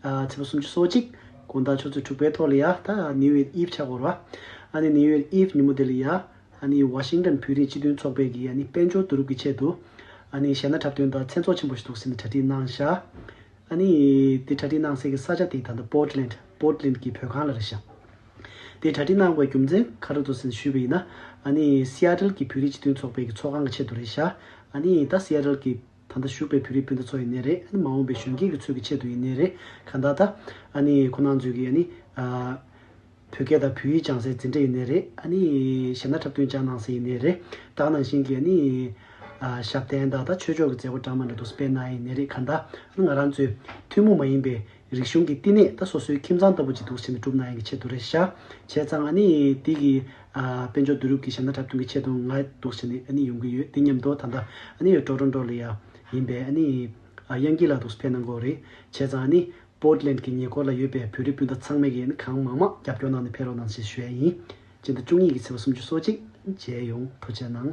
ཚེས་པ་སུམ་ཅུ་སོ་གཅིག། དགུང་ཟླ་ཆུ་ཚོད་དྲུག་པའི་ཐོག་ལི་ཡ་ཐ་ནིའུ་ཨེར་ཨིབ་ཆ་གོར་བ། ཨ་ནི་ནིའུ་ཨེར་ཨིབ་ནི་མོ་དེ་ལི་ཡ། ཨ་ནི་ཝ་ཤིང་ཏན་བོད་རིགས་སྤྱི་མཐུན་ཚོགས་པའི་གི་ཨ་ནི་དཔལ་འབྱོར་བསྡུ་རུབ་ཀྱི་ཆེད་དུ། ཨ་ནི་གཞས་སྣ་འཁྲབ་སྟོན་དང་མཚན་ཚོགས་ཆེན་པོ་ཞིག་འདུག་ཟེར་ནས་གྲ་སྒྲིག་གནང་ཤག། ཨ་ནི། དེ་གྲ་སྒྲིག་གནང་སའི་གི་ས་ཆ་དེ་ད་ལྟ་པོར་ཏི་ལེན། Portland། གི་བོད་ཁང་ལ་རེད་ཤག། དེ་གྲ་སྒྲིག་གནང་བའི་རྒྱུ་མཚན་ག་རེ་འདུག་ཟེར་ནས་ཞུས་པ་ཡིན་ན། ཨ་ནི། Seattle། གི་བོད་རིགས་སྤྱི་མཐུན་ཚོགས་པའི་གི་ཚོགས་ཁང་གི་ཆེད་དུ་རེད་ཤག། ཨ་ནི། ད Seattle། གི། ད་ལྟ་བཞུགས་པའི་བོད་རིགས་སྤུན་ཟླ་ཚོ་ཡིན་ནི་རེད་ཨ་ནི་མ་འོངས་པའི་གཞོན་སྐྱེས་ཀྱི་ཚོད་ཀྱི་ཆེད་དུ་ཡིན་ནི་རེད་ག་ད་ད་ཨ་ནི་ཁོ་ནང་ཚོད་ཀྱི་ཨ་ནི་བོད་སྐད་དང་བོད་ཡིག་སྦྱང་སའི་འཛིན་གྲྭ་ཡིན་ནི་རེད་ཨ་ནི་ཞབས་ན་འཁྲབ་སྟོན་ཅང་གནང་སའི་ཡིན་ནི་རེད་བདག་ནང་བཞིན་གྱི་ཨ་ནི་ཞབས་བརྟན་ད་ད་ཆོས་ཕྱོགས་ཀྱི་མཛད་སྒོ་གྲངས་མང་དྲ་ཐོག་སྤེལ་གནང་ཡིན་ནི་རེད་ག་ད་ཨ་ནི་ང་རང་ཚོའི་ཐུན་མོང་མ་ཡིན་པའི་རིག་གཞུང་གི་བསྟི་གནས་ད་སོ་སོའི་ཁྱིམ་ཚང་ལྟ་བུ་ཅིག་འདུག་ཟེར་ནས་གྲུབ་ན་ཡང་གི་ཆེད་དུ་རེད་ཤག་བྱས་ཙང་ཨ་ནི་དེ་གི་དཔལ་འབྱོར་བསྡུ་རུབ་ཀྱི་ཞབས་ན་འཁྲབ་སྟོན་གྱི་ཆེད་དུ་ང་འདུག་ཟེར་ནས་ཨ་ནི་ཡོང་གི་ཡོད་དེ་ཉམས་རྡོ་ད་ལྟ་ཨ་ནི་ཡོད་ཀྲོ་ཀྲོ་ཀྲོ་ལི་ཡ་ཡིན་པས་ཨ་ནི་གཡང་སྐྱིད་ལགས་འདུག་ཕེབས་གནང་དགོས་རེད་བྱས་ཙང་ཨ་ནི Portland གི་ཉེ་འཁོར་ལ་ཡོད་པའི་བོད་རིགས་སྤུན་ཟླ་ཚང་མས་གི་ཨ་ནི་གང་མང་མང་རྒྱབ་སྐྱོར་གནང་ནས་ཕེབས་རོགས་གནང་ཞེས་ཞུ་ཡ་ཡིན་སྤྱི་ཟླ་བཅུ་གཉིས་ཀྱི་ཚེས་པ་སུམ་ཅུ་སོ་གཅིག་མཇལ་ཡོང་ཐུགས་ཆེ་གནང།